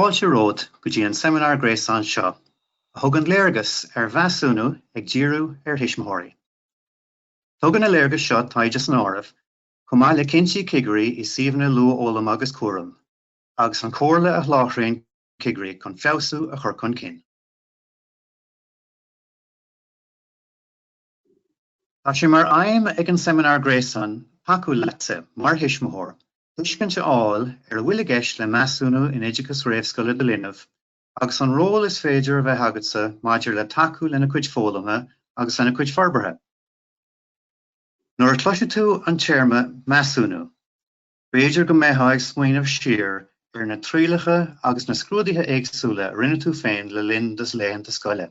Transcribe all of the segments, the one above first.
Fáilte romhat go dtí an seimineár gréasáin seo a thugann léargas ar mheasúnú ag díriú ar thuismitheoirí. Tugann na léargais seo taighde san áireamh, chomh maith le cinntí cigirí i suíomhanna luathfhoghlama agus cúraim, agus an chomhairle a sholáthraíonn cigirí chun feabhsú a chur chun cinn. Tá sé mar aidhm ag an seimineár gréasáin tacú leatsa, mar thuismitheoir, tuiscint a fháil ar a bhfuil i gceist le measúnú in oideachas réamhscoile do linbh agus an ról is féidir a bheith agatsa maidir le tacú lena cuid foghlama agus lena cuid forbartha. Nuair a chloisfidh tú an téarma 'measúnú'. B'fhéidir go mbeifeá ag smaoineamh siar ar na trialacha agus na scrúduithe éagsúla a rinne tú féin le linn do laethanta scoile.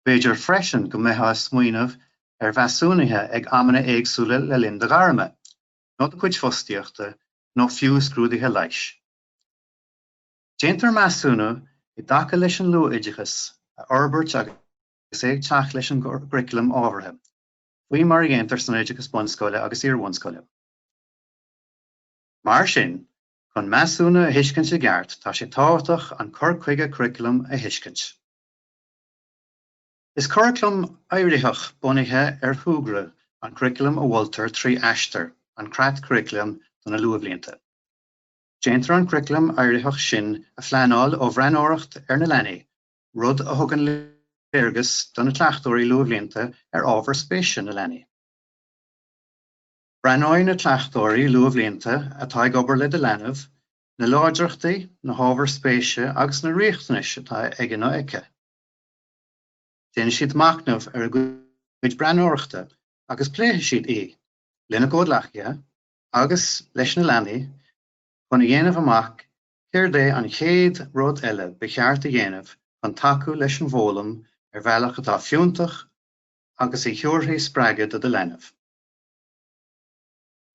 B'fhéidir freisin go mbeifeá ag smaoineamh ar mheasúnuithe ag amanna éagsúla le linn do ghairme, nó do chuid fostaíochta, nó fiú scrúduithe leighis. Déantar measúnú i dtaca leis an luathoideachas a fhorbairt agus é ag teacht leis an gcuraclam ábhartha. faoi mar a dhéantar san oideachas bunscoile agus iarbhunscoile. Mar sin, chun measúnú a thuiscint i gceart, tá sé tábhachtach an cur chuige curaclaim a thuiscint. Is curaclam éiritheach bunaithe ar shúgradh an curaclam a mholtar trí Aistear, an Creat Curaclaim do na Luathbhlianta. Déantar an curaclam éiritheach sin a phleanáil ó bhreathnóireacht ar na leanaí rud a thugann léargas do na cleachtóirí luathbhlianta ar ábhar spéise na leanaí. Breathnóidh na cleachtóirí luathbhlianta atá ag obair le do leanbh na láidreachtaí, na hábhair spéise agus na riachtanais atá aige nó aici. Déanfaidh siad machnamh ar a gcuid breathnóireachta agus pléifidh siad í lena gcomhghleacaithe agus leis na leanaí chun a dhéanamh amach Céard é an chéad rud eile ba cheart a dhéanamh chun tacú leis an bhfoghlaim ar bhealach atá fiúntach agus a thabharfaidh spreagadh do do leanbh?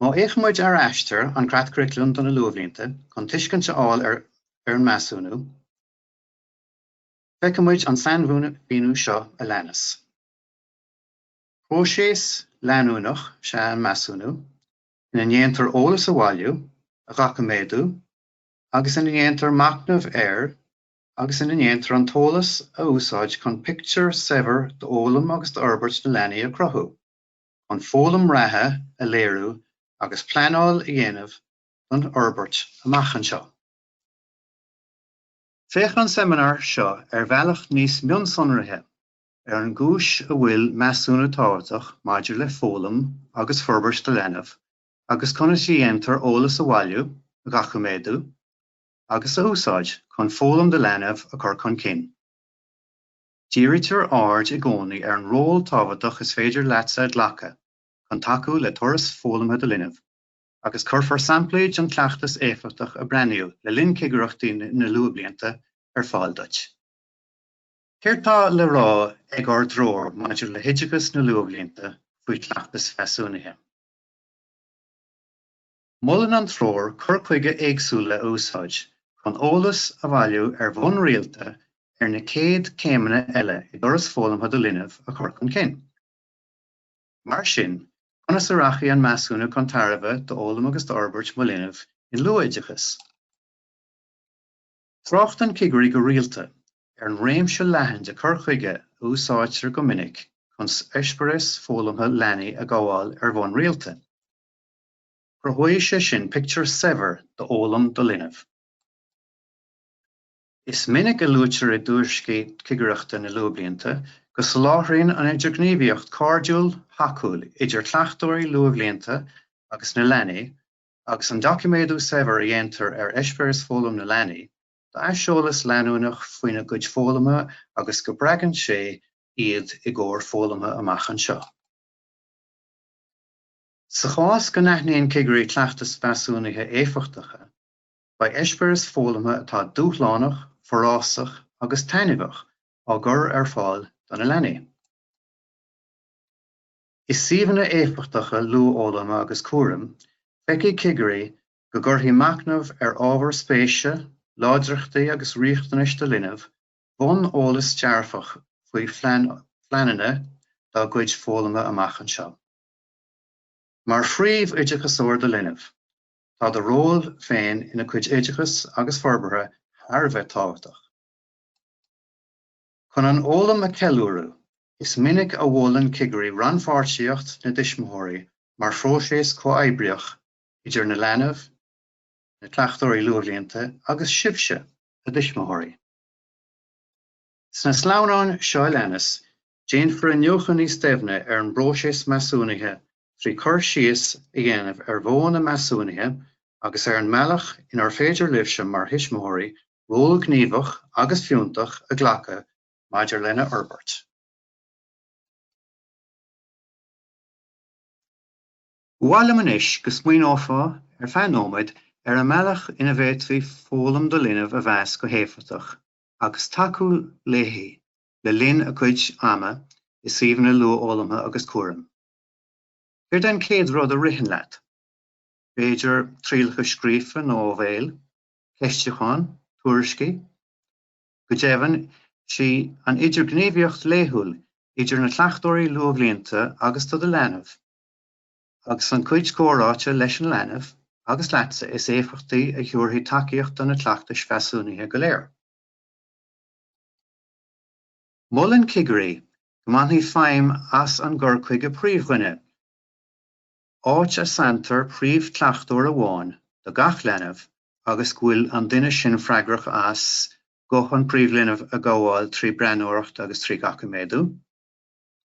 Má fhéachann muid ar Aistear an Creat Curaclaim do na Luathbhlianta chun tuiscint a fháil ar an measúnú, feicfidh muid an sainmhíniú seo a leanas, Próiseas leanúnach is ea an measúnú, ina ndéantar eolas a bhailiú, a dhoiciméadú agus ina ndéantar machnamh air agus ina ndéantar an t-eolas a úsáid chun pictiúr saibhir d'fhoghlaim agus d'fhorbairt na leanaí a chruthú, chun foghlaim reatha a léiriú agus pleanáil a dhéanamh don fhorbairt amach anseo. Féachann an seimineár seo ar bhealach níos mionsonraithe Ar an gcúis a bhfuil measúnú tábhachtach maidir le foghlaim agus forbairt do leanbh agus conas a dhéantar eolas a bhailiú, a dhoiciméadú agus a úsáid chun foghlaim do leanbh a chur chun cinn, dírítear aird i gcónaí ar an ról tábhachtach is féidir leatsa a ghlacadh chun tacú le turas foghlamtha do linbh, agus cuirfear samplaí den chleachtas éifeachtach a breathnaíodh le linn chigireachtaí na luathbhlianta ar fáil duit. Céard tá le rá ag ár dtreoir maidir le hoideachas na luathbhlianta faoi chleachtas measúnaithe? Molann an treoir cur chuige éagsúil a úsáid chun eolas a bhailiú ar bhonn rialta ar na céad chéimeanna eile i dturas foghlamtha do linbh a chur chun cinn. Mar sin, conas a rachaidh an measúnú chun tairbhe d'fhoghlaim agus d'fhorbairt mo linbh in luathoideachas? Tráchtann cigirí go rialta ar an réimse leathan de chur chuige a úsáidtear go minic chun eispéiris foghlamtha leanaí a ghabháil ar bhonn rialta. Cruthóidh sé sin pictiúr saibhir d'fhoghlaim do linbh. Is minic a luaitear i dtuairiscí cigireachta na luathbhlianta go soláthraíonn an idirghníomhaíocht cairdiúil, thacúil idir cleachtóirí luathbhlianta agus na leanaí agus an doiciméadú saibhir a dhéantar ar eispéiris foghlaim na leanaí, aiseolas leanúnach faoina gcuid foghlama agus go spreagann sé iad i gcomhair foghlamtha amach anseo. Sa chás go n-aithníonn cigirí cleachtais mheasúnaithe éifeachtacha, beidh eispéiris foghlamtha atá dúshlánach, forásach agus taitneamhach á gcur ar fáil do na leanaí. I suíomhanna éifeachtacha luathfhoghlama agus cúraim, feicfidh cigirí go gcuirfidh machnamh ar ábhar spéise, láidreachtaí agus riachtanais do linbh bonn eolais dearfach faoi phleananna dá gcuid foghlama amach anseo. Mar phríomh-oideachasóir do linbh, tá do ról féin ina chuid oideachais agus forbartha thar a bheith tábhachtach. Chun an fhoghlaim a cheiliúradh, is minic a mholann cigirí rannpháirtíocht na dtuismitheoirí mar phróiseas comhoibríoch idir an leanbh, na cleachtóirí luathbhlianta agus sibhse, a dtuismitheoirí. Sna sleamhnáin seo a leanas, déanfar iniúchadh níos doimhne ar an bpróiseas measúnaithe trí chur síos a dhéanamh ar mhodhanna measúnaithe agus ar an mbealach inar féidir libhse mar thuismitheoirí ról gníomhach agus fiúntach a ghlacadh maidir lena fhorbairt. Ba mhaith liom anois go smaoineofá ar feadh nóiméad ar an mbealach ina bhféadfaí foghlaim do linbh a mheas go héifeachtach agus tacú léi le linn a cuid ama i suíomhanna luathfhoghlamtha agus cúraim. Céard é an chéad rud a ritheann leat? B'fhéidir trialacha scríofa nó ó bhéal? ceistiúchán, tuairiscí. Go deimhin, sí an idirghníomhaíocht laethúil idir na cleachtóirí luathbhlianta agus do do leanbh, agus a gcuid comhráite leis an leanbh agus leatsa, is éifeachtaí a thiúrfaidh tacaíocht do na cleachtais mheasúnaithe go léir. Molann cigirí go mbainfí feidhm as an gcur chuige príomhdhuine, áit a sanntar príomhchleachtóir amháin do gach leanbh agus go bhfuil an duine sin freagrach as guth an phríomhlinbh a ghabháil trí bhreathnóireacht agus trí dhoiciméadú,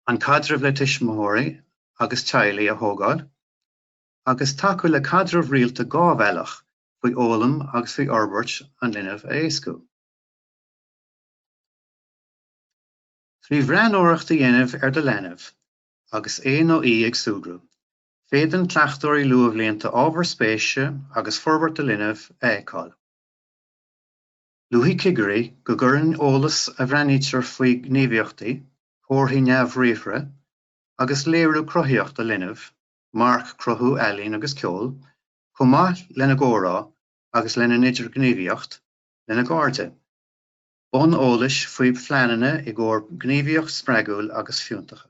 an caidreamh le tuismitheoirí agus teaghlaigh a thógáil, agus tacú le caidreamh rialta dhá bhealach faoi fhoghlaim agus faoi fhorbairt an linbh a éascú. Trí bhreathnóireacht a dhéanamh ar do leanbh, Agus é nó í ag súgradh, féadann cleachtóirí luathbhlianta ábhair spéise agus forbairt an linbh a fheiceáil. Luafaidh cigirí go gcuireann eolas a bhreathnaítear faoi ghníomhaíochtaí, comharthaí neamhbhriathartha, agus léiriú cruthaíocht an linbh, marc cruthú, ealaín agus ceol, chomh maith lena gcomhrá agus lena n-idirghníomhaíocht lena gcairde. Bonn eolais faoi phleananna i gcomhair gníomhaíocht spreagúil agus fiúntacha.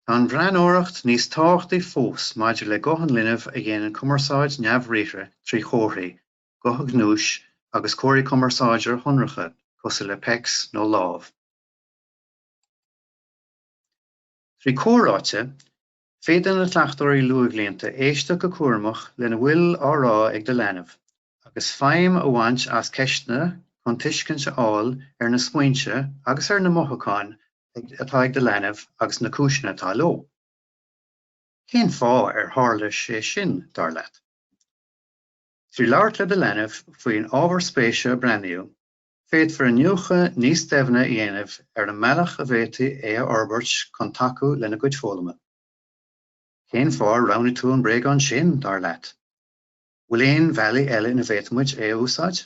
Tá an bhreathnóireacht níos tábhachtaí fós maidir le guth an linbh a dhéanann cumarsáid neamhbhriathartha trí chomharthaí, gothaí gnúise, agus comharthaí cumarsáide sonracha cosúil le pecs nó lámh. Trí chomhráite, Féadann na cleachtóirí luathbhlianta éisteacht go cúramach lena bhfuil á rá ag do leanbh, agus feidhm a bhaint as ceisteanna chun tuiscint a fháil ar na smaointe agus ar na mothúcháin atá ag do leanbh agus na cúiseanna atá leo. Cén fáth ar tharla sé sin, dar leat? Trí labhairt le do leanbh faoin ábhar spéise a breathnaíodh, Féadfar iniúchadh níos doimhne a dhéanamh ar an mbealach a bhféadfaí é a fhorbairt chun tacú lena gcuid foghlama. Cén fáth ar roghnaigh tú an bréagán sin, dar leat? An bhfuil aon bhealaí eile ina bhféadfadh muid é a úsáid?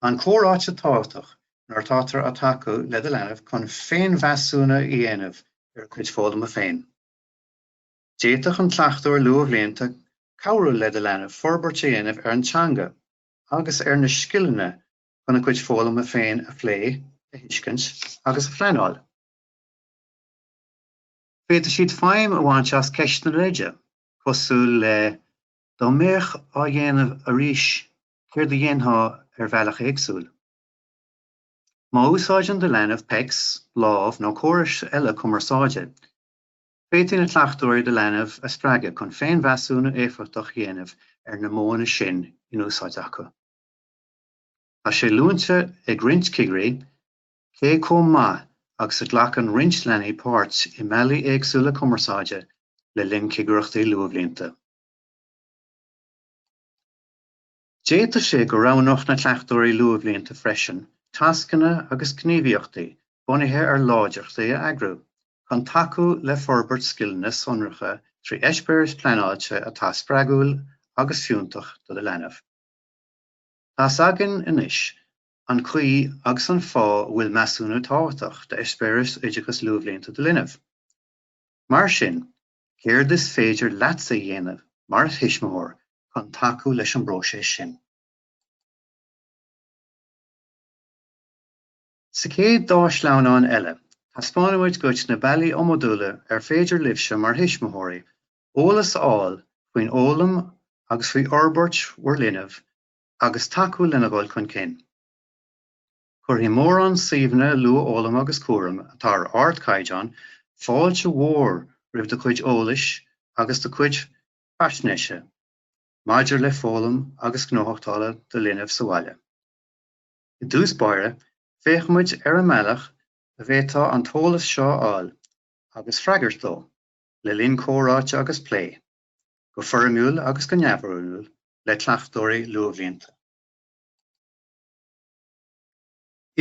An-chomhráite tábhachtach nuair atáthar ag tacú le do leanbh chun féinmheasúnú a dhéanamh ar a chuid foghlama féin. D'fhéadfadh an cleachtóir luathbhlianta cabhrú le do leanbh forbairt a dhéanamh ar an teanga, agus ar na scileanna chun a gcuid foghlama féin a phlé, a thuiscint agus a phleanáil. Féadfaidh siad feidhm a bhaint as ceisteanna leide, cosúil le Dá mbeadh á dhéanamh arís céard a dhéanfá ar bhealach éagsúil? Má úsáideann do leanbh PECS, Lámh nó córais eile cumarsáide, Féadfaidh na cleachtóirí do leanbh a spreagadh chun féinmheasúnú éifeachtach a dhéanamh agus na modhanna sin in úsáid acu. Tá sé luaite ag roinnt cigirí cé chomh maith agus a ghlacann roinnt leanaí páirt i mbealaí éagsúla cumarsáide le linn cigireachtaí luathbhlianta. D'fhéadfadh sé go roghnódh na cleachtóirí luathbhlianta freisin tascanna agus gníomhaíochtaí bunaithe ar láidreachtaí a eagrú chun tacú le forbairt scileanna sonracha trí eispéiris phleanáilte atá spreagúil agus fiúntach do do leanbh. Tá's againn anois an chaoi agus an fáth a bhfuil measúnú tábhachtach d'eispéireas oideachas luathbhlianta do linbh. Mar sin, Céard is féidir leatsa a dhéanamh mar thuismitheoir chun tacú leis an bpróiseas sin? Sa chéad dá shleamhnán eile, taispeánfaidh muid dhuit na bealaí iomadúla ar féidir libhse mar thuismitheoirí eolas a fháil faoi fhoghlaim agus faoi fhorbairt bhur linbh agus tacú lena dhul chun cinn. Cuirfidh mórán suíomhanna luathfhoghlama agus cúraim, atá ar ardchaighdeán, fáilte mhór roimh do chuid eolais agus do chuid faisnéise maidir le foghlaim agus gnóthachtála do linbh sa bhaile. I dtús báire, féachfaidh muid ar an mbealach a bhféadfá an t-eolas seo a fháil agus freagairt dó, le linn comhráite agus plé, go foirmiúil agus go neamhfhoirmiúil, le cleachtóirí luathbhlianta.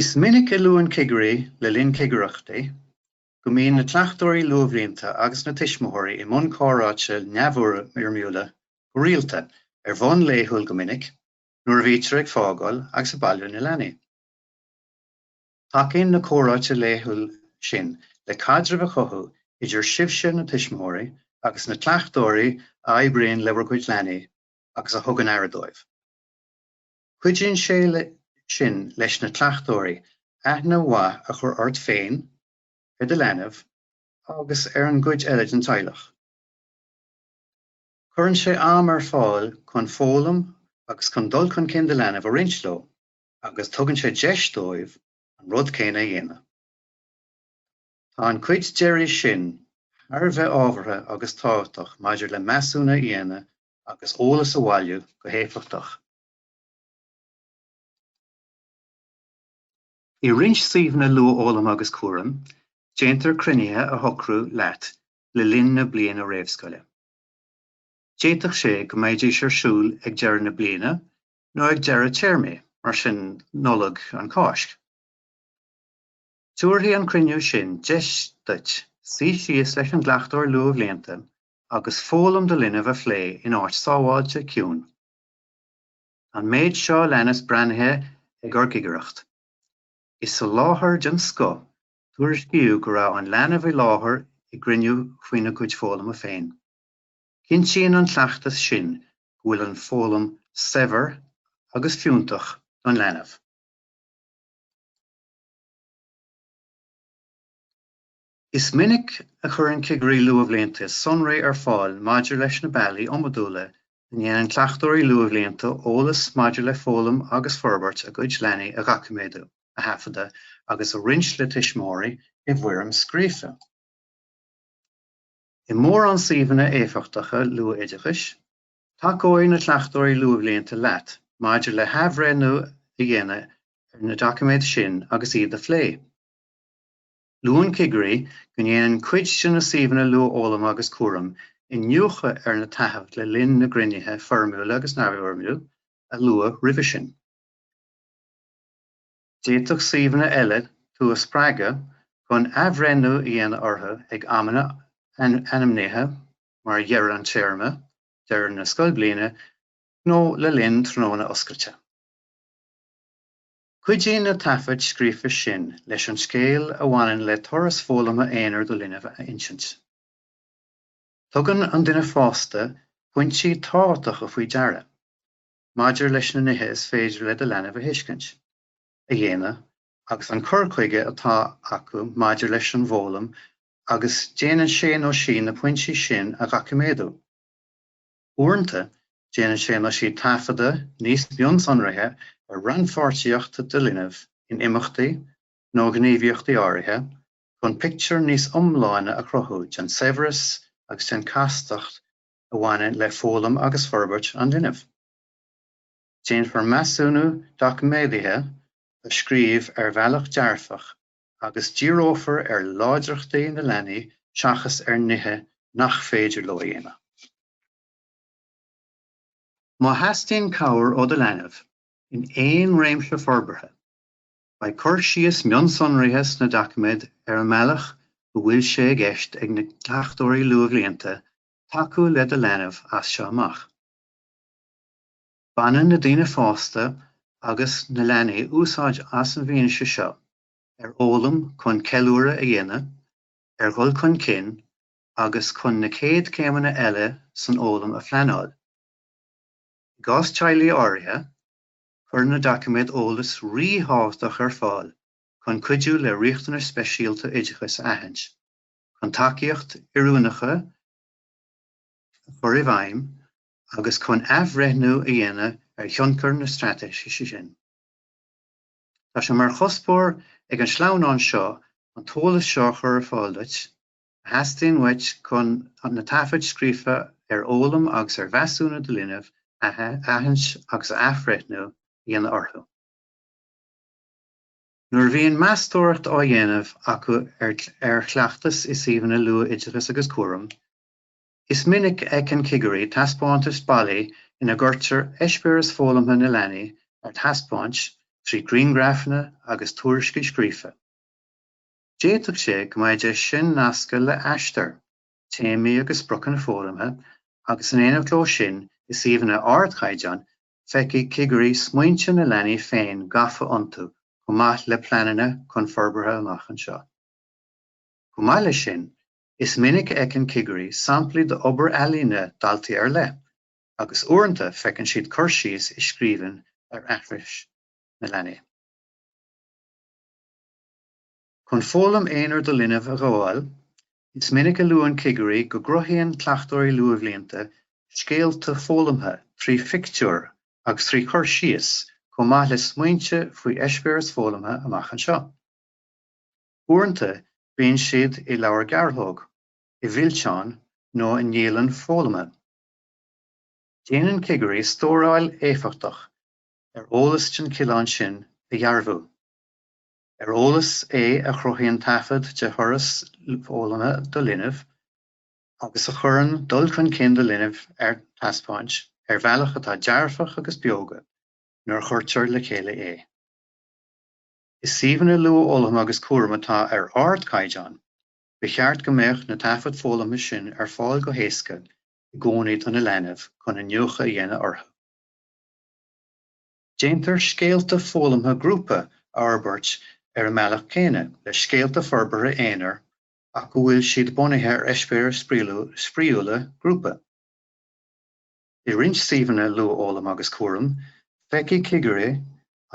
Is minic a luann cigirí, le linn cigireachtaí, go mbíonn na cleachtóirí luathbhlianta agus na tuismitheoirí i mbun comhráite neamhfhoirmiúla go rialta, ar bhonn laethúil go minic, nuair a bhítear ag fágáil agus ag bailiú na leanaí. Tacaíonn na comhráite laethúla sin le caidreamh a chothú idir sibhse, na tuismitheoirí, agus na cleachtóirí a oibríonn le bhur gcuid leanaí agus a thugann aire dóibh. Cuidíonn sé sin leis na cleachtóirí aithne mhaith a chur ort féin, ar do leanbh agus ar an gcuid eile den teaghlach. Cuireann sé am ar fáil chun foghlaim agus chun dul chun cinn do linbh a roinnt leo agus tugann sé deis dóibh an rud céanna a dhéanamh. Tá an chuid deiridh sin thar a bheith ábhartha agus tábhachtach maidir le measúnú a dhéanamh agus eolas a bhailiú go héifeachtach. I roinnt suíomhanna luathfhoghlama agus cúraim, déantar cruinnithe a shocrú leat le linn na bliana réamhscoile. D'fhéadfadh sé go mbeidís ar siúl ag deireadh na bliana nó ag deireadh téarmaí, mar sin, Nollag, an Cháisc. Tabharfaidh an cruinniú sin deis duit suí síos leis an gcleachtóir luathbhlianta agus foghlaim do linbh a phlé in áit sábháilte, ciúin. An méid seo a leanas breathnaithe ag ár gcigireacht. I soláthar den scoth, tuairiscíodh go raibh an leanbh i láthair i gcruinniú faoina gcuid foghlama féin. Cinntíonn an cleachtas sin go bhfuil an foghlaim saibhir agus fiúntach don leanbh. Is minic a chuireann cigirí luathbhlianta sonraí ar fáil maidir leis na bealaí iomadúla ina ndéanann cleachtóirí luathbhlianta eolas maidir le foghlaim agus forbairt a gcuid leanaí a dhoiciméadú, a thaifeadadh agus a roinnt le tuismitheoirí i bhfoirm scríofa. I mórán suíomhanna éifeachtacha luathoideachais, tacóidh na cleachtóirí luathbhlianta leat maidir le hathbhreithniú a dhéanamh ar na doiciméid sin agus iad a phlé. Luann cigirí go ndéanann cuid de na suíomhanna luathfhoghlama agus cúraim iniúchadh ar na taifid le linn na gcruinnithe foirmiúla agus neamhfhoirmiúil a luadh roimhe sin. D'fhéadfadh suíomhanna eile tú a spreagadh chun athbhreithniú a dhéanamh orthu ag amanna ainmnithe mar dheireadh an téarma, deireadh na scoilbhliana nó le linn tráthnóna oscailte. Cuidíonn na taifid scríofa sin leis an scéal a bhaineann le turas foghlama aonair do linbh a insint. Tugann an duine fásta pointí tábhachtacha faoi deara maidir leis na nithe is féidir le do leanbh a thuiscint, a dhéanamh agus an cur chuige atá acu maidir leis an bhfoghlaim agus déanann sé nó sí na pointí sin a dhoiciméadú. Uaireanta, déanann sé nó sí taifeadadh níos mionsonraithe ar rannpháirtíocht do linbh in imeachtaí nó gníomhaíochtaí áirithe chun pictiúr níos iomláine a chruthú den saibhreas agus den chastacht a bhaineann le foghlaim agus forbairt an linbh. Déanfar measúnú doiciméadaithe a scríobh ar bhealach dearfach agus díreofar ar láidreachtaí na leanaí seachas ar nithe nach féidir leo a dhéanamh. Má theastaíonn cabhair ó do leanbh in aon réimse forbartha, beidh cur síos mionsonraithe sna doiciméid ar an mbealach go bhfuil sé i gceist ag na Cleachtóirí Luathbhlianta tacú le do leanbh as seo amach. Baineann na daoine fásta agus na leanaí úsáid as an bhfianaise seo ar fhoghlaim chun ceiliúradh a dhéanamh ar dhul chun cinn agus chun na céad céimeanna eile san fhoghlaim a phleanáil. I gcás teaghlaigh áirithe, cuireann na doiciméid eolas ríthábhachtach ar fáil chun cuidiú le riachtanais speisialta oideachais a aithint, chun tacaíochtaí oiriúnacha a chur i bhfeidhm, agus chun athbhreithniú a dhéanamh ar thionchar na straitéise sin. Tá sé mar chuspóir ag an sleamhnán seo an t-eolas seo a chur ar fáil duit a theastaíonn uait chun na taifid scríofa ar fhoghlaim agus ar mheasúnú do linbh a aithint agus athbhreithniú a dhéanamh orthu. Nuair a bhíonn meastóireacht á dhéanamh acu ar chleachtas i suíomhanna luath-oideachais agus cúraim, Is minic a fheiceann cigirí taispeántais ballaí ina gcuirtear eispéireas foghlamtha na leanaí ar taispeáint trí ghrianghraifeanna agus tuairiscí scríofa. D'fhéadfadh sé go mbeidís sin nasctha le Aistear, téamaí agus spriocanna foghlamtha agus in éineacht leo sin i suíomhanna ardchaighdeáin feicfidh cigirí smaointe na leanaí féin gafa iontu chomh maith le pleananna chun forbartha amach anseo. Chomh maith leis sin, Is minic a fheiceann cigirí samplaí d'obair ealaíne daltaí ar leith agus uaireanta feiceann siad cur síos i scríbhinn ar aithris na leanaí. Chun foghlaim aonair do linbh a ghabháil, is minic a luann cigirí go gcruthaíonn cleachtóirí luathbhlianta scéalta foghlamtha trí phictiúir agus trí chur síos chomh maith le smaointe faoi eispéiris foghlamtha amach anseo. Uaireanta bíonn siad i leabhar gearrthóg, i bhfillteán nó i ndialann foghlama. Déanann cigirí stóráil éifeachtach ar eolas den chineál sin a dhearbhú, ar eolas é a chruthaíonn taifead de thuras foghlama do linbh agus a chuireann dul chun cinn do linbh ar taispeáint ar bhealach atá dearfach agus beoga nuair a chuirtear le chéile é. I suíomhanna luathfhoghlama agus cúraim atá ar ardchaighdeán, ba cheart go mbeadh na taifid foghlamtha sin ar fáil go héasca i gcónaí do do leanbh chun iniúchadh a dhéanamh orthu. Déantar scéalta foghlamtha grúpa a fhorbairt ar an mbealach céanna le scéalta forbartha aonair ach go bhfuil siad bunaithe ar eispéiris spraíúla grúpa. I roinnt suíomhanna luathfhoghlaim agus cúraim, feicfidh cigirí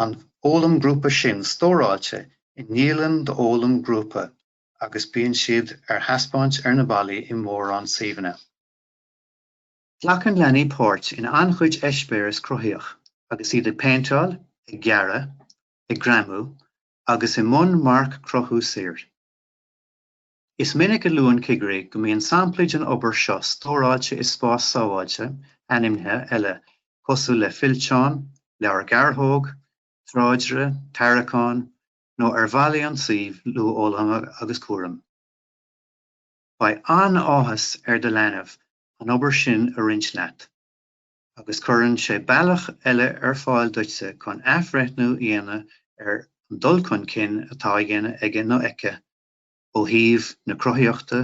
an fhoghlaim grúpa sin stóráilte i ndialann d'fhoghlaim ghrúpa agus bíonn siad ar thaispeáint ar na ballaí i mórán suíomhanna. Glacann leanaí páirt in an-chuid eispéireas cruthaíoch agus iad ag péinteáil, ag gearradh, ag greamú agus i mbun marc-chruthú saor. Is minic a luann cigirí go mbíonn samplaí den obair seo stóráilte i spás sábháilte ainmnithe eile cosúil le fillteán, leabhar gearrthóg, tráidire, tarraiceán, nó ar bhallaí an tsuímh luathfhoghlama agus cúraim. Beidh an-áthas ar do leanbh an obair sin a roinnt leat, agus cuireann sé bealach eile ar fáil duitse chun athbhreithniú a dhéanamh ar an dul chun cinn atá á dhéanamh aige nó aici. ó thaobh na cruthaíochta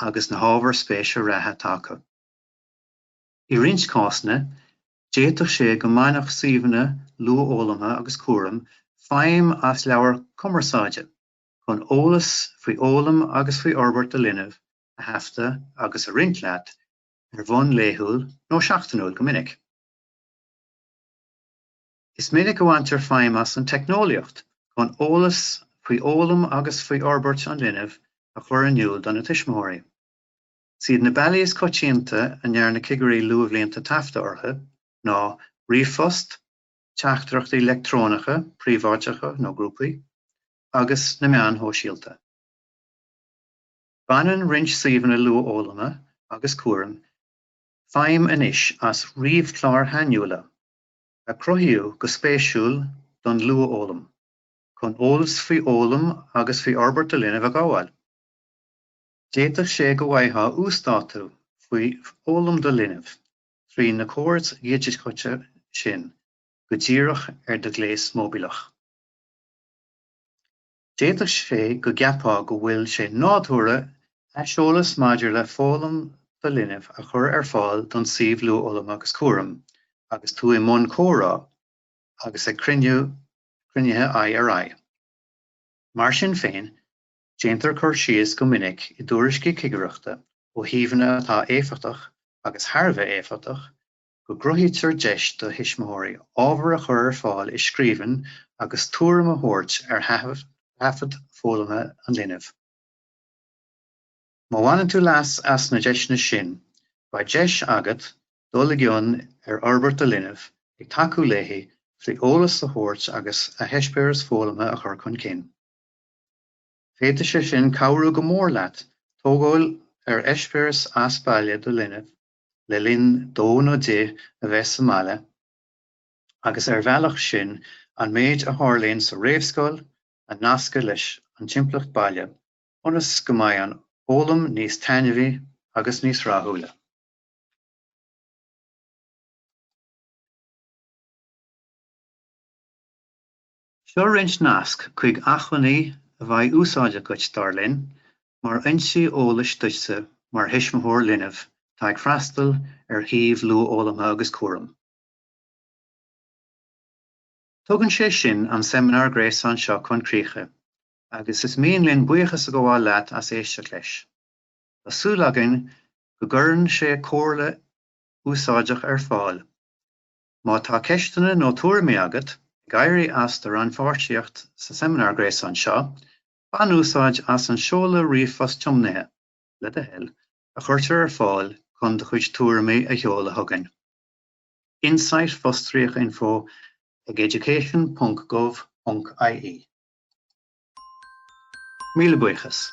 agus na hábhar spéise reatha atá acu. I roinnt cásanna, d'fhéadfadh sé go mbainfeadh suíomhanna luathfhoghlamtha agus cúraim feidhm as leabhar cumarsáide chun eolas faoi fhoghlaim agus faoi fhorbairt do linbh a thaifeadadh agus a roinnt leat ar bhonn laethúil nó seachtainiúil go minic. Is minic a bhaintear feidhm as an teicneolaíocht chun eolas faoi fhoghlaim agus faoi fhorbairt an linbh a chur in iúl do na tuismitheoirí. Is iad na bealaí is coitianta a ndearna cigirí luathbhlianta taifeadadh orthu ná ríomhphost, teachtaireachtaí leictreonacha príobháideacha nó grúpaí, agus na meáin shóisialta. Baineann roinnt suíomhanna luathfhoghlama agus cúraim feidhm anois as ríomhchláir shainiúla a cruthaíodh go spéisiúil don luathfhoghlaim, chun eolas faoi fhoghlaim agus faoi fhorbairt do linbh a ghabháil. D'fhéadfadh sé go bhfaightheá uasdátú faoi fhoghlaim do linbh trí na córais dhigiteacha sin go díreach ar do ghléas móibíleach. D'fhéadfadh sé go gceapfá go bhfuil sé nádúrtha aiseolas maidir le foghlaim do linbh a chur ar fáil don suíomh Luathfhoghlaim agus Cúraim agus tú i mbun comhrá agus ag cruinniú, cruinnithe aghaidh ar aghaidh. Mar sin féin, déantar cur síos go minic i dtuairiscí cigireachta ó shuíomhanna atá éifeachtach agus thar a bheith éifeachtach go gcruthaítear deis do thuismitheoirí ábhar a chur ar fáil i scríbhinn agus tuairim a thabhairt ar thaifead foghlama an linbh. Má bhaineann tú leas as na deiseanna sin, beidh deis agat dul i gcion ar fhorbairt do linbh, ag tacú léithi trí eolas a thabhairt agus a heispéireas foghlamtha a chur chun cinn. Féadfaidh sin cabhrú go mór leat tógáil ar eispéireas as baile do linbh le linn dó nó di a bheith sa mbaile, agus ar an mbealach sin an méid a tharlaíonn sa réamhscoil a nascadh leis an timpeallacht baile ionas go mbeidh an fhoghlaim níos taitneamhaí agus níos rathúla. Seo roinnt nasc chuig acmhainní a bheidh úsáideach dhuit, dar linn, mar fhoinsí eolais duitse mar thuismitheoir linbh atá ag freastal ar shuíomh luathfhoghlamtha agus cúraim. Tugann sé sin an seimineár gréasáin seo chun críche agus is mian linn buíochas a ghabháil leat as éisteacht leis. Tá súil againn go gcuireann sé comhairle úsáideach ar fáil Má tá ceisteanna nó tuairimí agat, ag éirí as do rannpháirtíocht sa seimineár gréasáin seo, bain úsáid as an seoladh ríomhphost tiomnaithe, le do thoil, a chuirtear ar fáil chun do chuid tuairimí a sheoladh chugainn. Insight fostríoc info ag education.gov.ie. Míle buíochas.